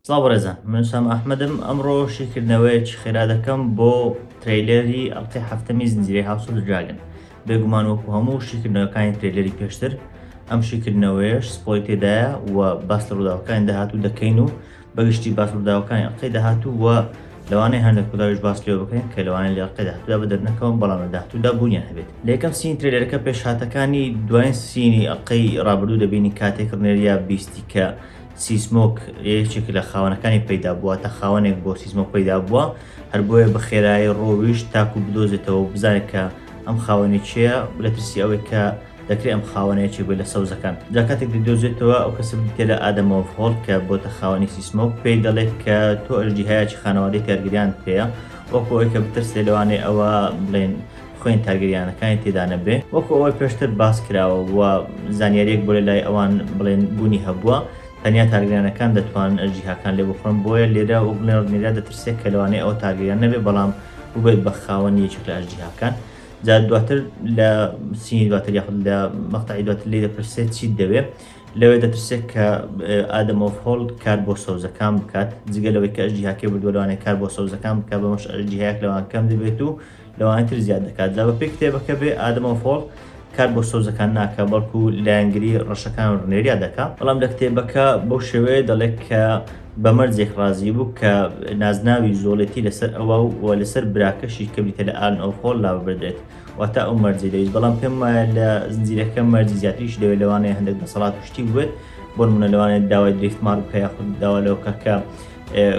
سڵاو بەڕێزان من سام ئەحمەدم ئەمڕۆ شیکردنەوەیەکی خێرا دەکەم بۆ ترەیلەری ئەڵلقەی هەفتەمی زنجیرەی هاوسۆ دراگن بێگومان وەکو هەموو شیکردنەوەکانی ترەیلەری پێشتر ئەم شیکردنەوەیش سپۆی تێدایە و باس لە ڕووداوەکانی داهاتوو دەکەین و بەگشتی باس ڕووداوەکانی ئەڵقەی داهاتوو و لەوانەیە هەندێک ڕووداویش باس لێوە بکەین کە لەوانەیە لە ئەڵقەی داهاتوودا بە دەرنەکەون بەڵام لە داهاتوودا بوونیان هەبێت لە یەکەم سینی ترێلەرەکە پێشهاتەکانی دوایین سینی ئەڵقەی ڕابردوو دەبینین کاتێک ڕنێریا بیستی کە سیسمۆک یەکێک لە خاوەنەکانی پەیدا بووە تا خاوەنێک بۆ سیسمۆک پەیدا بووە هەر بۆیە بە خێرایی ڕۆویشت تاکو بدۆزێتەوە و بزانێت کە ئەم خاوەنی چێە لە ترسی ئەوەی کە دەکرێت ئەم خاوەنە یەکێک بێت لە سەوزەکان جا کاتێک دەیدۆزێتەوە ئەو کەسە بریتێلە ئادەمەوە هۆڵ کە بۆتە خاوەنی سیسمۆک پێی دەڵێت کە تۆ ئەژدی هەیەکی خانەوادەی تارگریان پێەیە وەکو ئەوی کە بترسێ لەوانێ ئەوە بڵێن خوێن تارگریانەکانی تێدا نەبێ وەکو ئەوەی پێشتر باس کراوە و زانیاریەک بۆ لە لای ئەوان بڵێن بوونی هەبووە تەنیا تارگریانەکان دەتوان ئەژدیهاکان لێ بخۆن بۆیە لێرە وەک بڵێن ڕنیرا دەترسێت کە لەوانێ ئەوە تارگریان نەبێ بەڵام ببێت بە خاوەنی یەکێک لە ئەژدیهاکان جا دواتر لە سینی دواتر یاخود لە مەقتەعی دواتر لێی دەپرسێت چیت دەوێ لەوێ دەترسێت کە ئادەم ئۆف هۆڵ کار بۆ سەوزەکان بکات جگە لەوەی کە ئەژی هاکێ بردوەوانێ کار بۆ سەوزەکان بکە بەمەش ئەژی هەیەک لەوان کەم دەبێت و لەوان تر زیاد دەکات جا بە پێی کتێبەکە بێ ئادەم ئۆف هۆڵ کار بۆ سۆزەکان ناکە بەڵکو لایەنگری ڕەشەکان ڕنێریا دەکە بەڵام لە کتێبەکە بەو شێوەیە دەڵێت کە بە مەرجێک ڕازی بوو کە نازناوی زۆڵێتی لەسەر ئەوا و و لەسەر براکەشی کە بریتە لە ئارن ئۆرخۆڵ لا ببردرێت واتا ئەو مەرجەی دەویست بەڵام پێم وایە لە زنجیرەکە مەرجی زیاتریشی دەوێت لەوانەیە هەندێک دەسەڵات و شتی بووێت بۆ نموونە لەوانەیە داوای دریفتمار بکە یاخود داوا لەوە بکە کە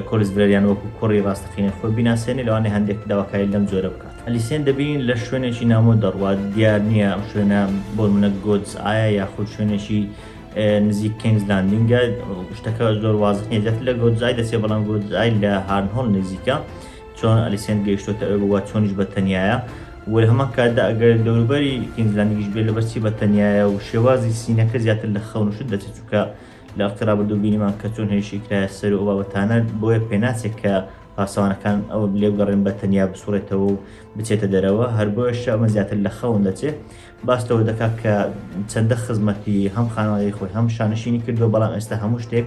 کۆلس برەریان وەکو کوڕی ڕاستەقینەی خۆی بیناسێنێ لەوانەیە هەندێک داواکاری لەم جۆرە بکات ئەلیسێن دەبینین لە شوێنێکی نامۆ دەڕوات دیار نییە ئەم شوێنە بۆ نموونە گۆدس ئایە یاخود شوێنێکی نزیک کینگز لاندینگە شتەکە زۆر وازح نیە زیاتر لە گۆدزای دەچێت بەڵام گۆدزای لە هارنهۆڵ نزیکە چۆن ئەلیسێنت گەیشتوتە ئەوێ بووە چۆنیش بە تەنیایە و لە هەمان کاتدا ئەگەر دەوروبەری کینگز لاندینگیش بێت لەبەر چی بە تەنیایە و شێوازی سینەکە زیاتر لە خەون و شت دەچێت چونکە لە ئەڵقی ڕابردوو بینیمان کە چۆن هێرشی کرایە سەر و ئەو بابەتانە بۆیە پێناچێت کە پاسەوانەکان ئەو لێبگەڕێن بە تەنیا بسوڕێتەوە و بچێتە دەرەوە هەر بۆیەشە ئەمە زیاتر لە خەون دەچێت باس لەوە دەکات کە چەندە خزمەتی هەم خانەوادەی خۆی هەم شانشینی کردووە بەڵام ئێستا هەموو شتێک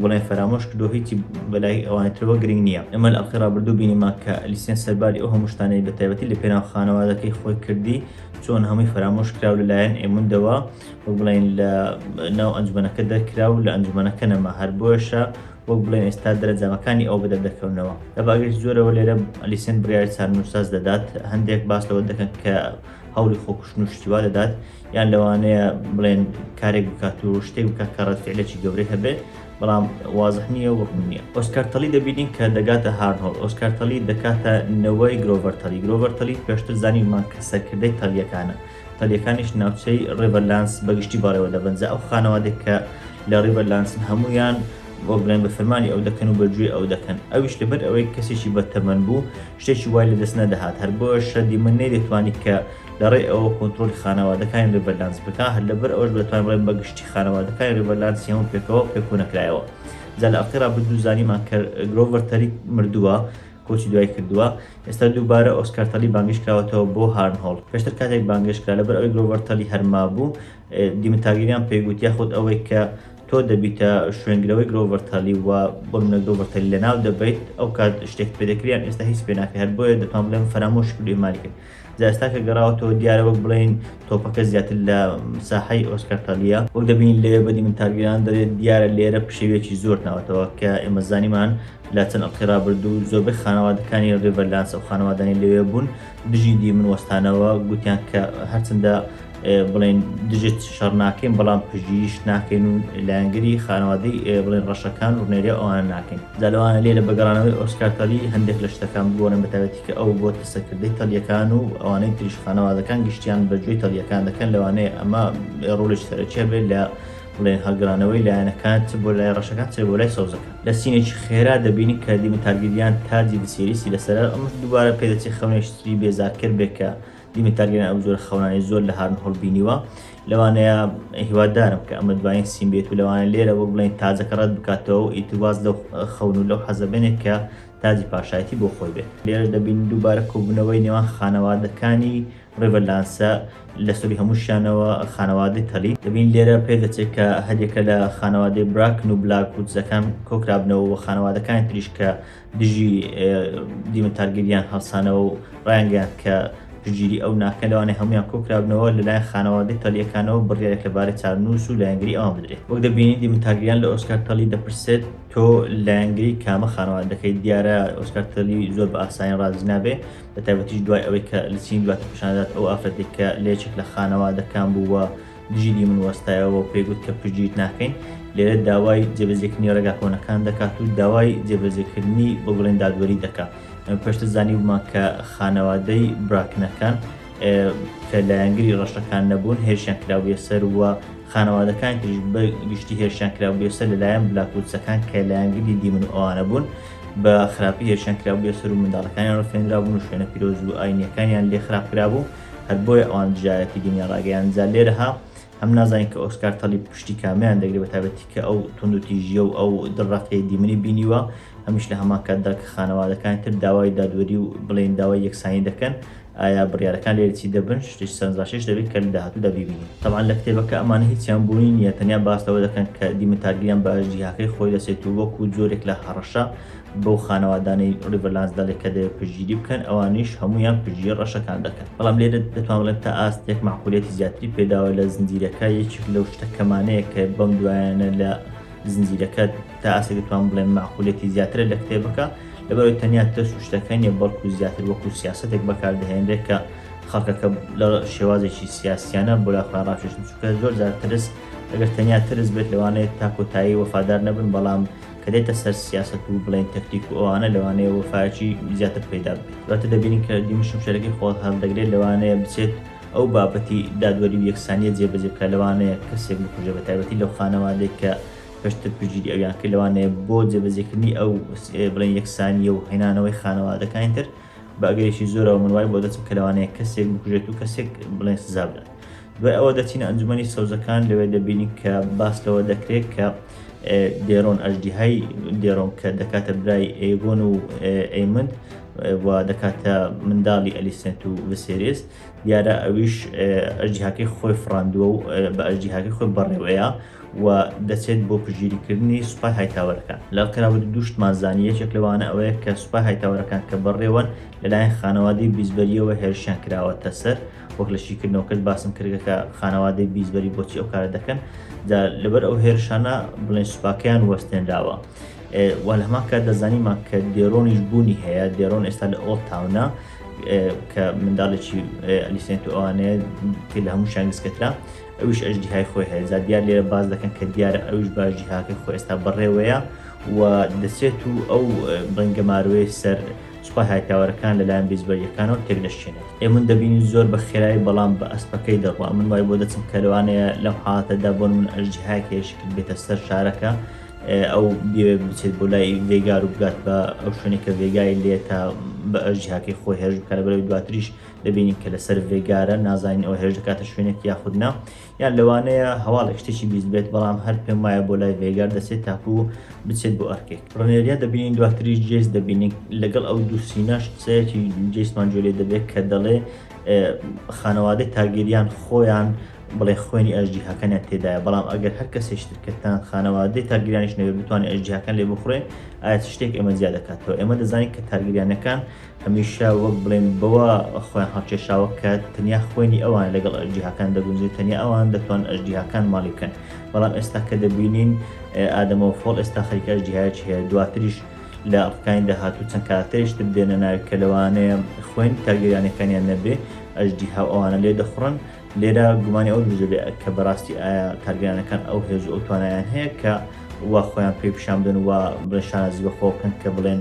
بڵێن فەرامۆش کردو هیچی بەلای ئەوانی ترەوە گرنگ نییە ئەمە لە ئەڵقی ڕابردوو بینیمان کە ئەلیسیان سەرباری ئەو هەموو شتانەی بە تایبەتی لە پێناو خانەوادەکەی خۆی کردی چۆن هەمووی فەرامۆش کراو لەلایەن ئێموندەوە وەک بڵێن لە ناو ئەنجومەنەکە دەرکرا و لە ئەنجومەنەکە نەما هەر بۆیشە وەک بڵێن ئێستا دەرەجامەکانی ئەو بدە دەکەونەوە لە باگەی زۆرەوە لێرە ئەلیسێن بڕیاری چارنووساز دەدات هەندێک باس لەوە دەکەن کە هەوڵی خۆکوشتن و شتی وا دەدات یان لەوانەیە بڵێن کارێک بکات و شتێک بکات کە ڕەتفعلێکی گەورەی هەبێت بەڵام وازح نییە و ڕوون نییە ئۆسکارتەلی دەبینین کە دەگاتە هارنۆڵ ئۆسکارتەلی دەکاتە نەوەی گرۆڤەرتەلی گرۆڤەرتەلی پێشتر زانیمان کە سەرکردەی تەلیەکانە تەلیەکانیش ناوچەی ڕێڤەرلانس بەگشتی بەڕێوە دەبەنجە ئەو خانەوادێک کە لە ڕێڤەرلانسن هەمویان بۆ بڵێن بە فەرمانی ئەو دەکەن و بەگوێ ئەو دەکەن ئەویش لەبەر ئەوەی کەسێکی بەتەمەن بوو شتێکی وای لە دەست نەدەهات، هەر بۆیەش شەندی من نەیدەتوانی کە لە ڕێی ئەوە کۆنترۆڵی خانەوادەکانی ڕیڤەرلانس بکا، هەر لە بەر ئەوەش بە دەتوان ڕێم بە گشتی خانەوادەکانی ڕیڤەرلانسی هەموو پێکەوە پێکۆ نەکرایەوە. جا لە ئەڵقەی ڕابردوو زانیمان کە گرۆڤەر تەریک مردووە، کۆچی دوایی کردووە. ئێستا دووبارە ئۆسکار تەلی بانگێش کراوەتەوە بۆ هارنهۆڵ. پێشتر کاتێک بانگێش کرا لە بەر ئەوەی گرۆڤەر تەلی هەر مابوو، دیمن تارگیریان پێی گوت یاخود ئەوەی کە تۆ دەبیتە شوێنگرەوەی گرۆڤەر تالی و بۆ منە گرۆڤەر تالی لە ناو دەبیت ئەو کات شتێک پێ دەکریان ئێستا هیچ پێ ناکە هەر بۆیە دەتوان بڵێم فەرامۆش کردی ماری کرد جا ئێستا کە گەڕاوەتەوە دیارە وەک بڵین تۆپەکە زیاتر لە ساحەی ئۆسکار تالیە وەک دەبین لێ بەدی من تارگیران دەێت دیارە لێرە پشێوێکی زۆر ناوەتەوە کە ئێمە زانیمان لە چەند ئەڵقی رابردوو زۆربەی خانەوادەکانی ڕێڤەرلانس و خانەوادانی لەوێ بوون دژی دی من وەستانەوە گوتیان کە هەرچنددە بڵێن دژت شەڕ ناکەین بەڵام پژیش ناکەین و لایەنگری خانەوادەی بڵێن ڕەشەکان ڕوونێری ئەوان ناکەین جالوانە لێرە بەگەڕانەوەی ئۆسکارتەلی هەندێک لە شتەکان بگۆڕن بەتاوەتی کە ئەو بۆ تەسەکردەی تەڵیەکان و ئەوانەی تریش خانەوادەکان گشتیان بەجوێی تەڵیەکان دەکەن لەوانەیە ئەمە ڕۆلش سەرەکیە بێت لە بڵێن هەڵگرانەوەی لایەنەکان چ بۆ لای ڕەشەکان چێ بۆ لای سەوزەکە لە سینێکی خێرا دەبینی کە دیمە تارگیریان تاجی دسیریسی لەسەر ئەمش دووبارە پێدەچی خەونێشتری بێزارکرد بێکە دیمێت تارگێریان ئەو جۆرە خەونانەی زۆر لە هارن هۆڵ بینیوە لەوانەیە هیوادارم کە ئەمە دوایین سیم بێت و لەوانە لێرە وەک بڵێن تاجەکە ڕەت بکاتەوە و ئیتواز لەو خەون و لەو حەزە بێنێت کە تاجی پاشایەتی بۆ خۆی بێت لێرە دەبین دووبارە کۆبوونەوەی نێوان خانەوادەکانی ڕێڤەلانسە لە سەری هەمووشیانەوە خانەوادەی تەلی دەبین لێرە پێ دەچێت کە هەریەکە لە خانەوادەی براکن و بلاک وودزەکان کۆکرابنەوە و خانەوادەکانی تریش کە دژی دیمەتارگەریان هەڵسانەوە و ڕایانگەیان کە پشتگیری ئەو ناکەن لەوانەیە هەمویان کۆکرابنەوە لەلایەن خانەوادەی تەلیەکانەوە بڕیارێک لەبارەی چارەنووس و لایەنگری ئەوان بدرێت وەک دەبینین دیمەتارگەریان لە ئۆسکار تەلی دەپرسێت تۆ لایەنگری کامە خانەوادە دەکەیت دیارە ئۆسکار تەلی زۆر بە ئاسانی ڕازی نابێ بە تایبەتیش دوای ئەوەی کە لە چین دواتر پیشاندات ئەو ئافرەتێک کە لە یەکێک لە خانەوادەکان بووە جیلی من وەستایەوە و پێی گوت کە پشتگیریت ناکەین، لێرە داوای جێبەجێکردنی ڕێگا کۆنەکان دەکات و داوای جێبەجێکردنی بە بڵێن دادوەری دەکات. ئێمە پێشتر زانیوبمان کە خانەوادەی براکنەکان کە لایەنگری ڕەشەکان نەبوون هێرشیان کرابووە سەر و خانەوادەکان تریش بە گشتی هێرشیان کرابووە سەر لەلایەن بلاکوچەکان کە لایەنگری دیمن و ئەوانە بوون بە خراپی هێرشیان کرابووە سەر و منداڵەکانیان ڕفێنرابوون و شوێنە پیرۆز و ئاینیەکانیان لێ خراپ کرابوو هەر بۆیە ئەوان دژایەتی دنیا ڕاگەیان جا لێرەها هەم نازانین کە ئۆسکار تەلی پشتی کامیان دەگری بە تابەتی کە ئەو تونند و تیژیە و ئەو دڕەقی دیمنی بینیوە هەمیش لە هەمان کاتدا کە خانەوادەکان تر داوای دادوەری و بڵێن داوای یەکسانی دەکەن ئایا بڕارەکان لێرچی دەبن شتش سەرنجڕاشێش دەبێت کە لە داهاتوودا ببینین تەوان لە کتێبەکە ئەمانە هیچیان بوونی نیە تەنیا باستەوە دەکەن کە دیمە تارگیان بە ئەژدیهاکەی خۆی دەسێت و وەکو جۆرێک لە هەڕەشە بەو خانەوادانەی ڕیڤەرلانس دەڵێت کە دەبێت پشتگیری بکەن، ئەوانیش هەموویان پشتگیری ڕەشەکان دەکەن. بەڵام لێرە دەتوان بڵێم تا ئاستێک مەعقولیەتی زیاتری پێداوە لە زنجیرەکە، یەکێک لەو شتە کەمانەیە کە بەم دوایانە لە زنجیرەکە تا ئاستێک دەتوان بڵێم مەعقولیەتی زیاترە لە کتێبەکە، لەبەرئەوەی تەنیا ترس و شتەکە نییە، بەڵکو زیاتر وەکو سیاسەتێک بەکاردەهێنرێت کە خەڵکەکە لە شێوازێکی سیاسیانە بۆ لای خۆیان ڕاکێشن، چونکە زۆرجار ترس ئەگەر تەنیا ترس بێت لەوانەیە تا کۆتایی وەفادار نەبن، بەڵام کە دێتە سەر سیاسەت و بڵێن تەکتیک و ئەوانە لەوانەیە وەفایەکی زیاتر پەیدا بێت دواتر دەبینین کە دیمە شمشێرەکەی خۆ هەڵدەگرێت لەوانەیە بچێت ئەو بابەتی دادوەری و یەکسانیە جێبەجێ بکە لەوانەیە کەسێک بکوژێ بە تایبەتی لەو خانەوادێک کە پێشتر پشتگیری ئەویان کرد لەوانەیە بۆ جێبەجێکردنی ئەو بڵێن یەکسانیە و هێنانەوەی خانەوادەکانی تر بە ئەگەرێکی زۆرەوە من وای بۆ دەچم کە لەوانەیە کەسێک بکوژێت و کەسێک بڵێن سزا بدات دوای ئەوە دەچینە ئەنجومەنی سەوزەکان لەوێ دەبینی کە باس لەوە دەکرێت کە دێرۆن ئەژدیهای دێرۆن کە دەکاتە برای ئێگۆن و ئەیمند و دەکاتە منداڵی ئەلیسنت و وسێریس دیارە ئەویش ئەژدیهاکەی خۆی فراندووە و بە ئەژدیهاکەی خۆی بەڕێوەیە و دەچێت بۆ پژگیریکردنی سوپای هایتاوەرەکان لە کراوە دوشتمان زانانی یەکێک لەوانە ئەوەیە کە سوپای هایتاوەرەکان کە بەڕێوەن لەلایەن خانەوادی بیزبەریەوە هێرشیان کراوەتە سەر وەک لە شیکردنەوەکەت باسم کردگە کە خانەوادەی بیزبەری بۆچی ئەو کارە دەکەن لەبەر ئەو هێرشانە بڵێن سوپاکەیان وەستێنراوە. وە لە هەمان کات دەزانیمان کە دێرۆنیش بوونی هەیە دێرۆن ئێستا لە ئۆڵ تاونە کە منداڵێکی ئەلیسێنت ئەوانەیە پێ لە هەموو شانگسکەترا ئەوش ئەژدیهای خۆی هەیە زا دیار لێرە باز دەکەن کە دیارە ئەوش باژی هاکە خۆ ئێستا بەڕێوەیە و دەچێت و ئەو بەنگەماروێ سەر سوپای هایتاوەرەکان لەلایەن بەیزبەرییەکانەوە تێکدەشکێنێت. ئێمن دەبینین زۆر بە خێرایی بەڵام بە ئەسپەکەی دەڕوا. من وای بۆ دەچم کە لەوانەیە لەم حاڵەتەدا بۆ نموونە ئەژدیهایەک هەیە شکت بێتە سەر شارەکە، ئەو بیەوێت بچێت بۆ لای ڤێگار و بگات بە ئەو شوێنێک کە ڤێگای لێ تا بە ئەژدیهاکەی خۆی هێرش بکات، لەبەرئەوەی دواتریش دەبینین کە لەسەر ڤێگارە نازانین ئەو هێرش دەکاتە شوێنێک یاخود نا. یان لەوانەیە هەواڵێک شتێکی بیست بێت بەڵام هەر پێم وایە بۆ لای ڤێگار دەچێت تاکو بچێت بۆ ئەرکێک ڕنێریا دەبینین دواتریش جێس دەبینین لەگەڵ ئەو دوو سیناش قسەیەکی جێسمان جۆلێ دەبێت کە دەڵێ خانەوادەی تاگیریان خۆیان بڵێ خوێنی ئەژدی هەکەنیان تێدایە بەڵام ئەگەر هەر کەسێشترکردتان خانەوادەی تاگیرانیش نەوێت بتوانێت ئەژدی هەکەن لێ بخورێ ئایا شتێک ئێمە زیاد دەکاتەوە ئێمە دەزانین کە تاگیریانەکان هەمیشە وەک بڵێن بەوە خۆیان هەڵکێشاوە کە تەنیا خوێنی ئەوان لەگەڵ ئەژدیهاکان دەگونجێت، تەنیا ئەوان دەتوانن ئەژدیهاکان ماڵی بکەن. بەڵام ئێستا کە دەبینین ئادەمەوە فۆڵ ئێستا خەریکە ئەژدیهایەکی هەیە، دواتریش لە ئەڵقەکانی داهاتوو چەند کارەکتەرێکی تر دێنە ناوی کە لەوانەیە خوێن تارگێریانەکانیان نەبێ، ئەژدیها و ئەوانە لێدەخوڕن. لێرە گومانی ئەوە دروست دەبێت کە بەڕاستی ئایا تارگێریانەکان ئەو هێز و ئەو توانایەیان هەیە کە وا خۆیان پێ پیشان بدەن و وا بڵێن شانازی بەخۆ بکەن کە بڵێن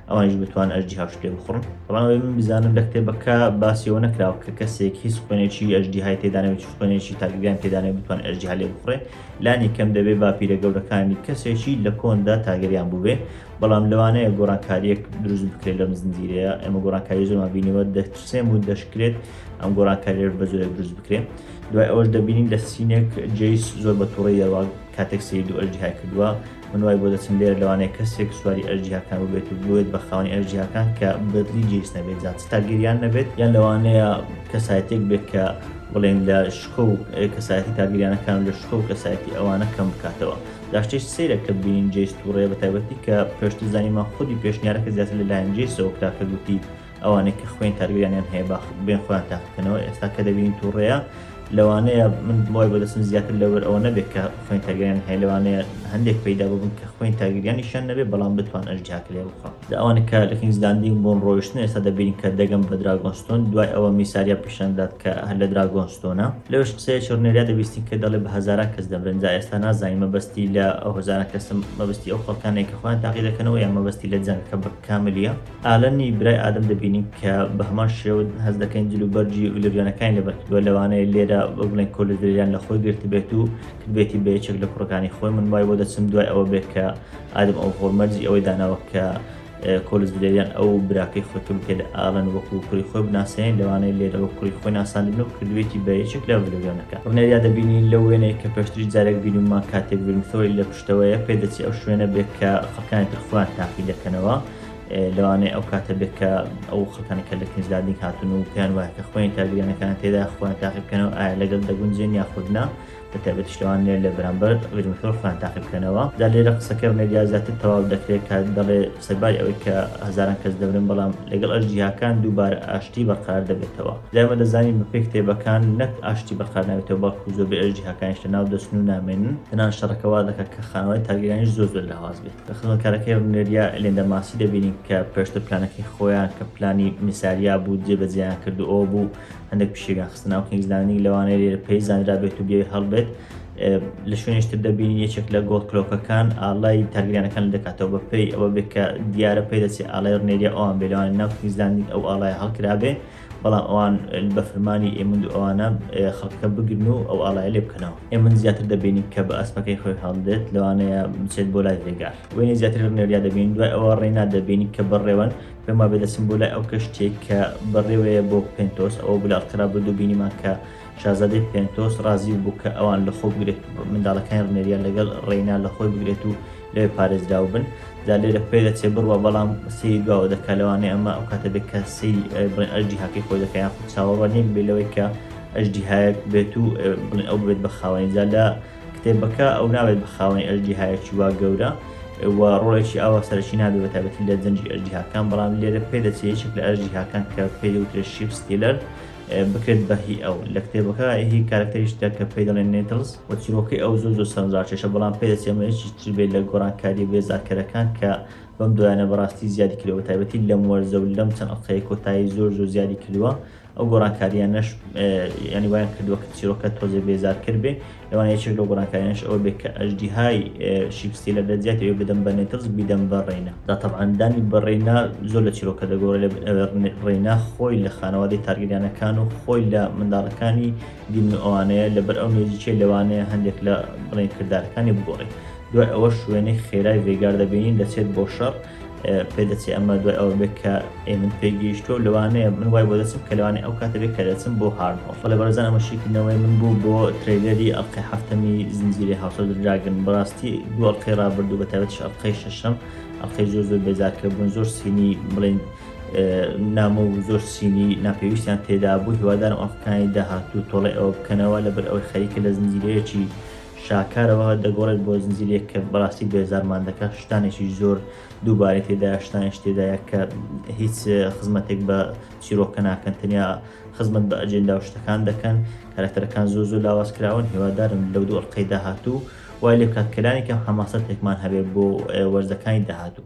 ئەوانیش بتوان ئەژدی هاش پێ بخڕن بەڵام من بزانم لە کتێبەکە باسیەوە نەکراوە کە کەسێک هیچ خوێنێکی ئەژدی های تێدانەوەی خوێنێکی تاگەیان تێدانێ بتوان ئەژدی هەلێ بخڕێ لانی کەم دەبێ باپیرە گەورەکانی کەسێکی لە کۆندا تاگەریان بووێ بەڵام لەوانەیە گۆڕانکاریەک دروست بکرێت لەم زنجیرەیە ئەمە گۆڕانکاری زۆرمان بینەوە دەچسێم و دەشکرێت ئەم گۆڕانکاریێ بە زۆرێک دروست بکرێت دوای ئەوەش دەبینین لە سینێک جیس زۆر بە توڕی دەوە کاتێک سری دوو ئەژدی های کردووە من وای بۆ دەچم لێرە لەوانەیە کەسێک سواری ئەر جیهاکان ببێت و بێت بە خاوەنی ئەر جیهاکان کە بەدلی جیس نەبێت جا چ تاگیریان نەبێت یان لەوانەیە کەسایەتێک بێت کە بڵێن لە شکۆ و کەسایەتی تاگیریانەکان لە شکۆ و کەسایەتی ئەوانە کەم بکاتەوە داشتش سەیرە کە بینین جیس تووڕێ بە تایبەتی کە پێشتر زانیمان خودی پێشنیارەکە زیاتر لەلایەن جیسەوە کرا کە گوتی ئەوانەی کە خوێن کارگەریانیان هەیە با بێن خۆیان تاقیکەنەوە ئێستا کە دەبینین تووڕەیە لەوانەیە من بڵای بەدەستم زیاتر لەوەر ئەوە نەبێت کە خوێن کارگەریان هەیە لەوانەیە هەندێک پیدا ببن کە خوێن کارگەریانیشان نەبێت بەڵام بتوان ئەژدیاک لێ بخوا لە ئەوانە کە لە کینگزلاندین بۆن ڕۆیشتن ئێستا دەبینین کە دەگەم بە دراگۆنستۆن دوای ئەوە میساریا پیشاندات کە هەر لە دراگۆنستۆنە لەوش قسەیە چڕنێریا دەبیستین کە دەڵێ بە هەزارا کەس دەبرن جا ئێستا نازانین مەبەستی لە ئەو هەزارە کەسم مەبستی ئەو خەڵکانێک کە خۆیان تاقی دەکەنەوە یان مەبەستی لە جەنگ کە بە کاملیە ئالنی برای ئادەم دەبینین کە بە هەمان شێوە هەز دەکەین جل و بەرجی و لەوێنەکانی لەبەرکردووە لەوانەیە لێرە بە بڵێن کۆلدریان لە خۆی گرتبێت و کردبێتی بە یەکێک لە کوڕەکانی خۆی من وای بۆ دەچم دوای ئەوە بێت کە ئادەم ئەو هۆڵمەرجی ئەوەی داناوە کە کۆلزدریان ئەو براکەی خۆی کە بکرێت ئالن وەکو کوری خۆی بناسێن لەوانەیە لێرەوە کوری خۆی ناساندن و کردوێتی بە یەکێک لە ڤلوێنەکە ڕنێریا دەبینین لە وێنەیە کە پێشتری جارێک بینیمان کاتێک بینثۆی لە پشتەوەیە پێدەچی ئەو شوێنە بێت کە خەکانی ترخوان تاقی دەکەنەوە لەوانەیە ئەو کاتە بێت کە ئەو خەتەنە کە لە کنجدادنی هاتون و پێیان وایە کە خۆیان کارگرانەکان تێدا خۆیان تاقی بکەنەوە ئایا لەگەڵ دەگونجێن یاخودنا بە تایبەت شتوانێ لە بەرامبەر ڕژمەکەەوە خۆیان تاقی بکەنەوە دا لێرە قسەکە مێدیا زیاتر تەواو دەکرێت کە دەڵێ سەرباری ئەوەی کە هەزاران کەس دەبرن بەڵام لەگەڵ ئەش جیاکان دووبارە ئاشتی بەقرار دەبێتەوە دایمە دەزانین بە پێی کتێبەکان نەک ئاشتی بەقرار ناوێتەوە بەڵکو زۆربەی ئەش جیهاکانیش لە ناو دەچن و نامێنن تەنان شەڕەکەوا دەکات کە خانەوەی تاگیرانیش زۆر زۆر لاواز بێت خزمەتکارەکەی ڕونێریا ئێلێندا ماسی دەبینین کە پێشتر پلانەکەی خۆیان کە پلانی میساریا بوو جێبەجێیان کرد و ئەوە بوو هەندێک پشێویان خستە ناو کینگز لاندینگ لەوانەیە لێرە پێی زانرابێت و بێوی هەڵبێت لە شوێنیشتر دەبینین یەکێک لە گۆڵ کلۆکەکان ئاڵای تارگریانەکان دەکاتەوە بە پێی ئەوە بێت کە دیارە پێ دەچێت ئاڵای ڕنێریا ئەوان بێلوان ناو کینگز لاندینگ ئەو ئاڵای هەڵکرابێ بەڵام ئەوان بە فرمانی ئێمن و ئەوانە خەڵکەکە بگرن و ئەو ئاڵای لێ بکەنەوە ئێمن زیاتر دەبینین کە بە ئەسپەکەی خۆی هەڵدێت لەوانەیە بچێت بۆ لای ڕێگار وێنی زیاتر ڕنێریا دەبین دوای ئەوە ڕێنا دەبینی کە بەڕێوەن پێما بێ دەچم بۆ لای ئەو کەشتێک کە بەڕێوەیە بۆ پێنتۆس ئەوە بلاڵکرا بە دووبینیمان کە شازادەی پێنتۆس ڕازی بوو کە ئەوان لە خۆ بگرێت منداڵەکانی ڕنێریا لەگەڵ ڕێینا لە خۆی بگرێت و لەوێ پارێزراو بن دا لێرە پێ دەچێ بڕوە بەڵام سەیری دواوە دەکات لەوانەیە ئەمە ئەو کاتە بێت کە سەیری بڵێن ئەژدی هاکەی خۆی دەکە یان خود چاوەڕوان نیە بێ لەوەی کە ئەژدی هایەک بێت و بڵێن ئەو بێت بە خاوەنی جا لە کتێبەکە ئەو ناوێت بە خاوەنی ئەژدی هایەکی وا گەورە و ڕۆڵێکی ئاوا سەرەکی نابێ بە تابەتی لە جەنجی ئەژدی هاکان بەڵام لێرە پێ دەچێ یەکێک لە ئەژدی هاکان کە پێ وترێ شیپس تیلەر بکرێت بە هی ئەو. لە کتێبەکە هی کارەکتەری شتە کە پێی دەڵێن نێتڵز و چیرۆکەی ئەو زۆر زۆر سەرنجڕاکێشە بەڵام پێ دەچێ ئەمە هیچی تر بێت لە گۆڕانکارییە بێزارکەرەکان کە بەم دوایانە بەڕاستی زیادی کردووە بەتایبەتی لەم وەرزە و لەم چەند ئەڵقەیە کۆتایی زۆر زۆر زیادی کردووە ئەو گۆڕانکارییانەش یانی وایان کردووە کە چیرۆکە تۆزێ بێزارکەر بێ لەوانە یەکێک لەو گۆڕانکاریانەش ئەوە بێت کە ئەژدیهای شیپسی لە دەرجات ئەوێ بدەم بە نێتڵز بیدەم بە ڕێینا دا تەبعان دانی بە ڕێینا زۆر لە چیرۆکە دەگۆڕێ لە ڕێینا خۆی لە خانەوادەی تارگریانەکان و خۆی لە منداڵەکانی دیمن و ئەوانەیە لەبەر ئەو نێزیکەی لەوانەیە هەندێک لە بڵێن کردارەکانی بگۆڕێت دوای ئەوە شوێنەی خێرای ڤێگار دەبینین دەچێت بۆ شەڕ پێ دەچێ ئەمە دوای ئەوە بێت کە ئێ من پێ گەیشتۆ لەوانەیە من وای بۆ دەچم کە لەوانێ ئەو کاتە بێ کە دەچم بۆ هارد فڵێ بەڕێزان ئەمە شیکردنەوەی من بوو بۆ ترەیلەری ئەڵقەی هەفتەمی زنجیرەی هاوس ئۆف دراگن بەڕاستی دوو ئەڵقەی ڕابردوو بە تایبەتیش ئەڵقەی شەشەم ئەڵقەی زۆر زۆر بێزارکەر بوون زۆر سینی بڵێن نامۆ و زۆر سینی ناپێویستیان تێدا بوو هیوادارم ئەڵقەکانی داهاتوو تۆڵی ئەوە بکەنەوە لەبەر ئەوەی خەریکە لە زنجیرەیەکی شاکارەوە دەگۆڕێت بۆ زنجیرەیەک کە بەڕاستی بێزارمان دەکات شتانێکی زۆر دووبارەی تێدایە شتانێش تێدایە کە هیچ خزمەتێک بە چیرۆکە ناکەن تەنیا خزمەت بە ئەجێندا و شتەکان دەکەن کارەکتەرەکان زۆر زۆر لاواز کراون هیوادارم لەو دوو ئەڵقەی داهاتوو وای لێ بکات کە لانی کەم حەماسەتێکمان هەبێت بۆ وەرزەکانی داهاتوو